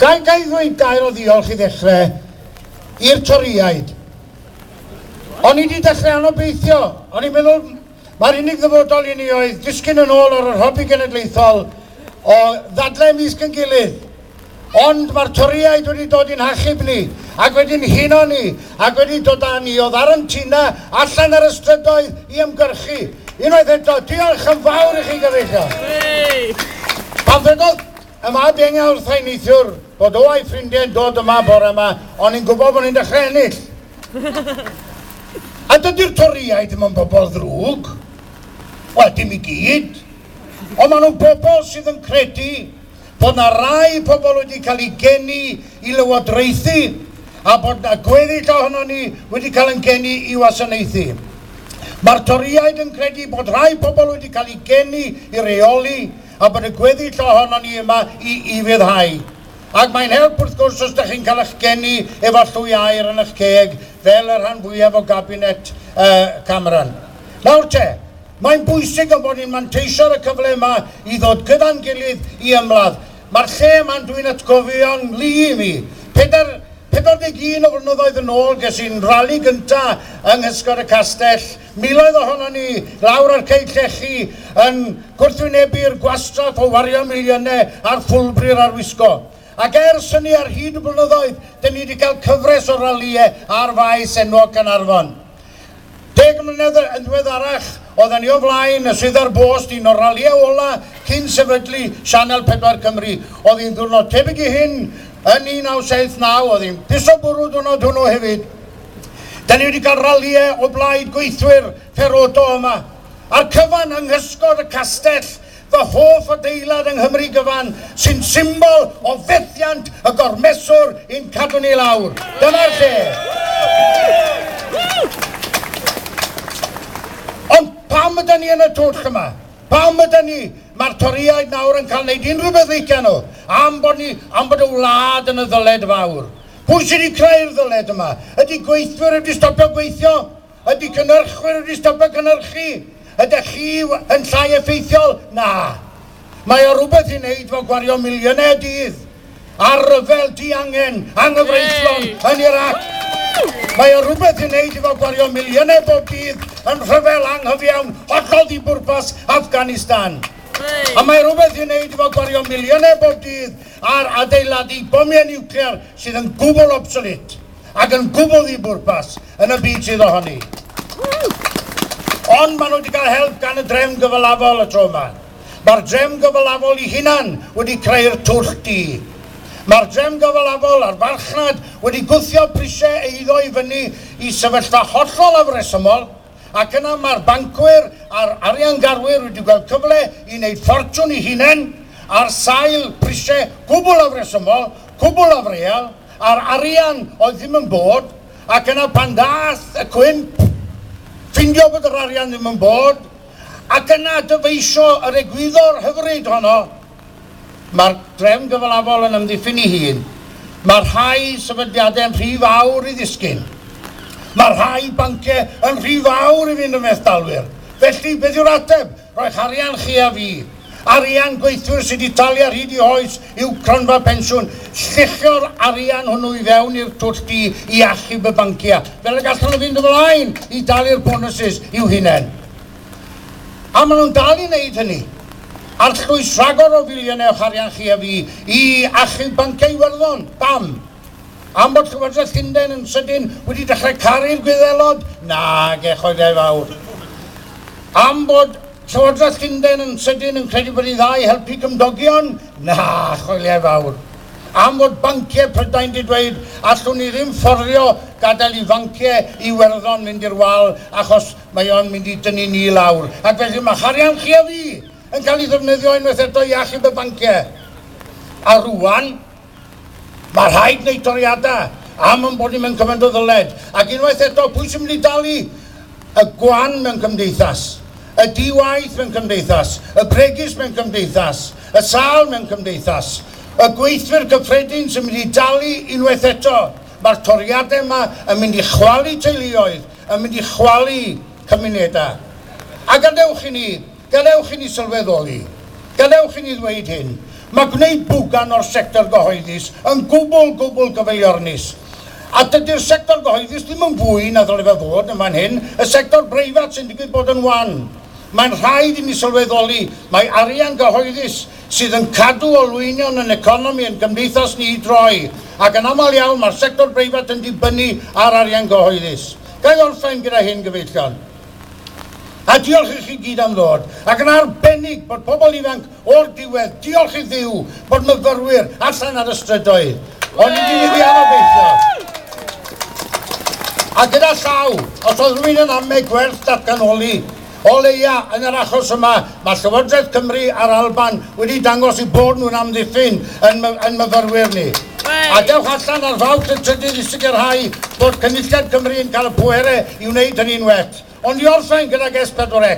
Ga i ddweud gair o ddiolch i ddechrau i'r Torïaid? O'n i 'di dechrau anobeithio, o'n i'n meddwl mae'r unig ddyfodol i ni oedd disgyn yn ôl ar yr hobi genedlaethol o ddadlau ymysg yn gilydd. Ond mae'r Torïaid wedi dod i'n hachub ni, ac wedi'n huno ni, ac wedi dod â ni o ddarawntina allan ar y strydoedd i ymgyrchu. Unwaith eto, diolch yn fawr i chi gyfeillion. Pan ddwedodd Yma dengau wrthai neithiwr bod o a'i ffrindiau'n dod yma bore yma, o'n ni'n gwybod bod ni'n dechrau ennill. A dydy'r Torïaid ddim yn bobl ddrwg. Wel, dim i gyd. Ond maen nhw'n bobl sydd yn credu bod na rai pobl wedi cael eu geni i lywodraethu a bod na gweddill ohonon ni wedi cael yn geni i wasanaethu. Mae'r Torïaid yn credu bod rhai pobl wedi cael eu geni i reoli a bod y gweddill ohonon ni yma i ufuddhau. Ac mae'n help wrth gwrs os da chi'n cael eich geni efo llwy aer yn eich ceg, fel y rhan fwyaf o gabinet yy Cameron. Nawr te, mae'n bwysig ein bod ni'n manteisio ar y cyfle yma i ddod gyda'n gilydd i ymladd. Mae'r lle yma'n dwi'n atgofio'n nglu i mi, pedair, 41 o flynyddoedd yn ôl ges i'n rali gynta' yng nghysgod y castell, Miloedd ohonon ni lawr ar cei llechi yn gwrthwynebu'r gwastraff o wario miliynau ar ffwlbri'r arwisgo. Ac ers hynny ar hyd y blynyddoedd, dyn ni wedi cael cyfres o ralïau ar faes enwog Caernarfon. Deg mlynedd yn ddiweddarach, oedden ni o flaen y Swyddfa'r Bost, un o'r ralïau ola cyn sefydlu Sianel 4 Cymru oedd un ddiwrnod tebyg i hyn yn 1979, oedd hi'n piso bwrw diwrnod hwnnw hefyd. Da ni wedi cael ralïau o blaid gweithwyr Ferodo yma. A'r cyfan yng nghysgod y castell, fy hoff adeilad yng Nghymru gyfan, sy'n symbol o fethiant y gormeswr i'n cadw ni lawr. Dyma'r lle! Ond pam yda ni yn y twll yma? Pam yda ni? Mae'r Torïaid nawr yn cael wneud unrhyw beth licia nhw, am bod ni, am bod y wlad yn y ddyled fawr. Pwy sydd wedi creu'r ddyled yma? Ydy gweithwyr wedi stopio gweithio? Ydy cynhyrchwyr wedi stopio cynhyrchu? Ydych chi yn llai effeithiol? Na. Mae o rhywbeth i wneud fo gwario miliynau y dydd ar ryfel diangen, anghyfreithlon yn Iraq. Mae o rhywbeth i wneud efo gwario miliynau bob dydd yn rhyfel anghyfiawn hollol ddibwrpas Afghanistan. A mae rhywbeth i wneud efo gwario miliynau bob dydd ar adeiladu bomiau niwclear sydd yn gwbl obsolete ac yn gwbl ddibwrpas yn y byd sydd ohoni. Ond maen nhw wedi cael help gan y drefn gyfalafol y tro yma. Mae'r drefn gyfalafol i hunan wedi creu'r twll du. Mae'r drefn gyfalafol a'r farchnad wedi gwthio prisiau eiddo i fyny i sefyllfa hollol afresymol, Ac yna mae'r bancwyr a'r ariangarwyr wedi gweld cyfle i wneud ffortiwn i hunain ar sail prisiau cwbl afresymol, cwbl afreal, a'r arian oedd ddim yn bod, ac yna pan ddaeth y cwymp, ffindio bod yr arian ddim yn bod, ac yna dyfeisio yr egwyddor hyfryd honno, Mae'r drefn gyfalafol yn ymddiffyn ei hun. Mae rhai sefydliadau'n rhy fawr i ddisgyn. Mae rhai banciau yn rhy fawr i fynd yn fethdalwyr. Felly, beth yw'r ateb? Rhoi'ch arian chi a fi. Arian gweithwyr sydd wedi talu ar hyd eu hoes i'w cronfa pensiwn. Lluchio'r arian hwnnw i fewn i'r twll du i achub y banciau, fel y gallwn nhw fynd ymlaen i dalu'r bonwsys i'w hunain. A maen nhw'n dal i wneud hynny. Arllwys rhagor o filiynau o'ch arian chi a fi i achub Banciau Iwerddon. Pam? Am bod Llywodraeth Llundain yn sydyn wedi dechrau caru'r Gwyddelod? Nage, choedau fawr. Am bod Llywodraeth Llundain yn sydyn yn credu bod hi'n dda i helpu cymdogion? Na, choeliau fawr. Am fod banciau Prydain 'di dweud allwn ni ddim fforddio gadael i fanciau Iwerddon mynd i'r wal achos Mae o'n mynd i dynnu ni i lawr, ac felly mae harian chi a fi yn cael ei ddefnyddio unwaith eto i achub y banciau. A rŵan, mae rhaid gwneud toriadau am ein bod ni mewn cymaint o ddyled. Ac unwaith eto, pwy sy'n mynd i dalu? Y gwan mewn cymdeithas, y di-waith mewn cymdeithas, y bregus mewn cymdeithas, y sâl mewn cymdeithas. Y gweithwyr cyffredin sy'n mynd i dalu unwaith eto. Mae'r toriadau yma yn mynd i chwalu teuluoedd, yn mynd i chwalu cymunedau. A gadewch i ni, gadewch i ni sylweddoli, gadewch i ni ddweud hyn, mae gwneud bwgan o'r sector gyhoeddus yn gwbl, gwbl gyfeiliornus. A dydy'r sector gyhoeddus ddim yn fwy na ddyle fe fod yn fan hyn, y sector breifat sy'n digwydd bod yn wan. Mae'n rhaid i ni sylweddoli mai arian gyhoeddus sydd yn cadw olwynion yn economi ein cymdeithas ni i droi, ac yn aml iawn mae'r sector breifat yn dibynnu ar arian gyhoeddus. Ga i orffen gyda hyn, gyfeillion? A diolch i chi gyd am ddod, ac yn arbennig bod pobl ifanc o'r diwedd, diolch i Dduw bod myfyrwyr allan ar y strydoedd, ond i ni wedi anobeithio. A gyda llaw, os oedd rhywun yn amme gwerth datganoli, O leia, yn yr achos yma, mae Llywodraeth Cymru a'r Alban wedi dangos eu bod nhw'n amddiffyn yn yn myfyrwyr ni. A dewch allan ar Fawrth y trydydd i sicrhau bod Cynulliad Cymru yn cael y pwerau i wneud hynny'n well. Ond i orffen gydag S4C.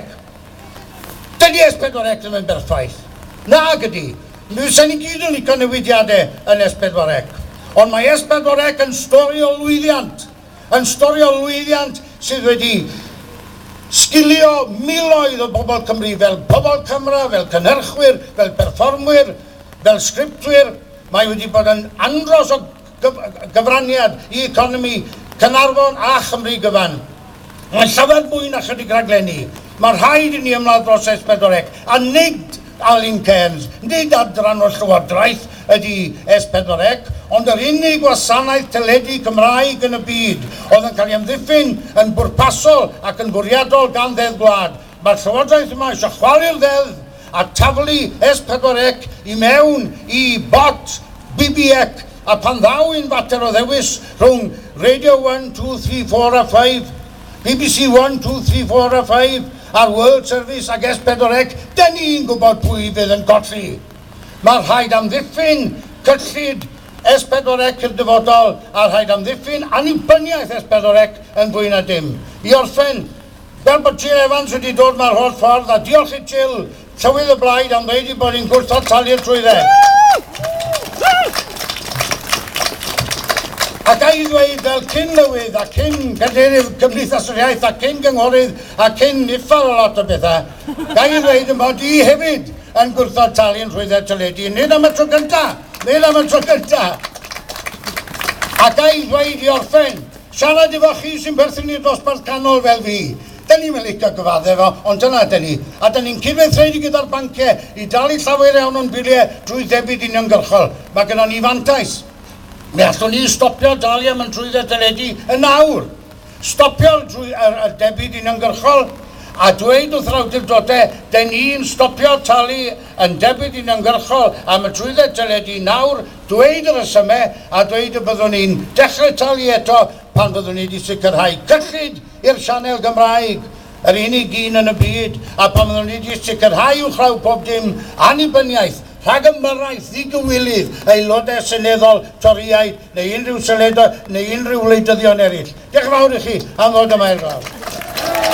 Dydy S4C ddim yn berffaith. Nag ydy. Fysen ni gyd yn licio newidiadau yn S4C. Ond mae S4C yn stori o lwyddiant. yn storio lwyddiant sydd wedi sgilio miloedd o bobl Cymru fel pobl camera, fel cynhyrchwyr, fel perfformwyr, fel sgriptwyr. Mae wedi bod yn andros o gyfraniad i economi Caernarfon a Chymru gyfan. Mae'n llawer mwy na chydig rhaglenni. Mae rhaid i ni ymladd dros S4C a nid Alun Cairns, Nid adran o'r Llywodraeth ydy S4C, ond yr unig wasanaeth teledu Cymraeg yn y byd, oedd yn cael ei amddiffyn yn bwrpasol ac yn fwriadol gan Ddeddf Gwlad. Mae'r Llywodraeth yma eisiau chwalu'r Ddeddf a taflu S4C i mewn i bot BBEC, a phan ddaw i'n fater o ddewis rhwng Radio One, Two, Three, Four a Five, bbc One, Two, Three, Four a Five a'r World Service ac S4C, dyn ni'n gwybod pwy fydd yn colli. Mae rhaid amddiffyn cyllid S4C i'r dyfodol a rhaid amddiffyn annibyniaeth S4C yn fwy na dim. I orffen, fel bod Jill Evans wedi dod 'ma'r holl ffordd, a diolch i Jill, Tywydd y blaid am ddeud ei bod hi'n gwrthod talu'r trwydded. Ac a'i ddweud fel cyn lywydd a cyn gadeirydd Cymdeithas yr Iaith a cyn gynghorydd a cyn uffar o lot o bethau, ga'i ddweud yn bod i hefyd yn gwrthod talu'n rhwydded teledu, nid am y tro gyntaf, nid am y tro gyntaf. Ac a'i ddweud i orffen Siarad efo chi sy'n perthyn i'r dosbarth canol fel fi. Dyn ni'm yn licio gyfadde efo, ond dyna ydyn ni. A dyn ni'n cydweithredu gyda'r banciau i dalu llawer iawn o'n biliau drwy ddebyd uniongyrchol. Mae gynnon ni fantais. Mi allwn ni stopio dalu am 'yn trwydded deledu yn nawr. Stopio drwy yr yr debyd uniongyrchol, a dweud wrth yr awdurdodau, 'dyn ni'n stopio talu yn debyd uniongyrchol am y trwydded deledu nawr, dweud y rhesymau a dweud y byddwn ni'n dechrau talu eto pan fyddwn ni wedi sicrhau cyllid i'r sianel Gymraeg, yr unig un yn y byd, a pan fyddwn ni wedi sicrhau uwchraw pob dim, annibyniaeth, rhagymharaeth, ddigywilydd, aelodau seneddol, Torïaid, neu unrhyw seledau, neu unrhyw wleidyddion eraill. Diolch yn fawr i chi am ddod yma i'r glaw.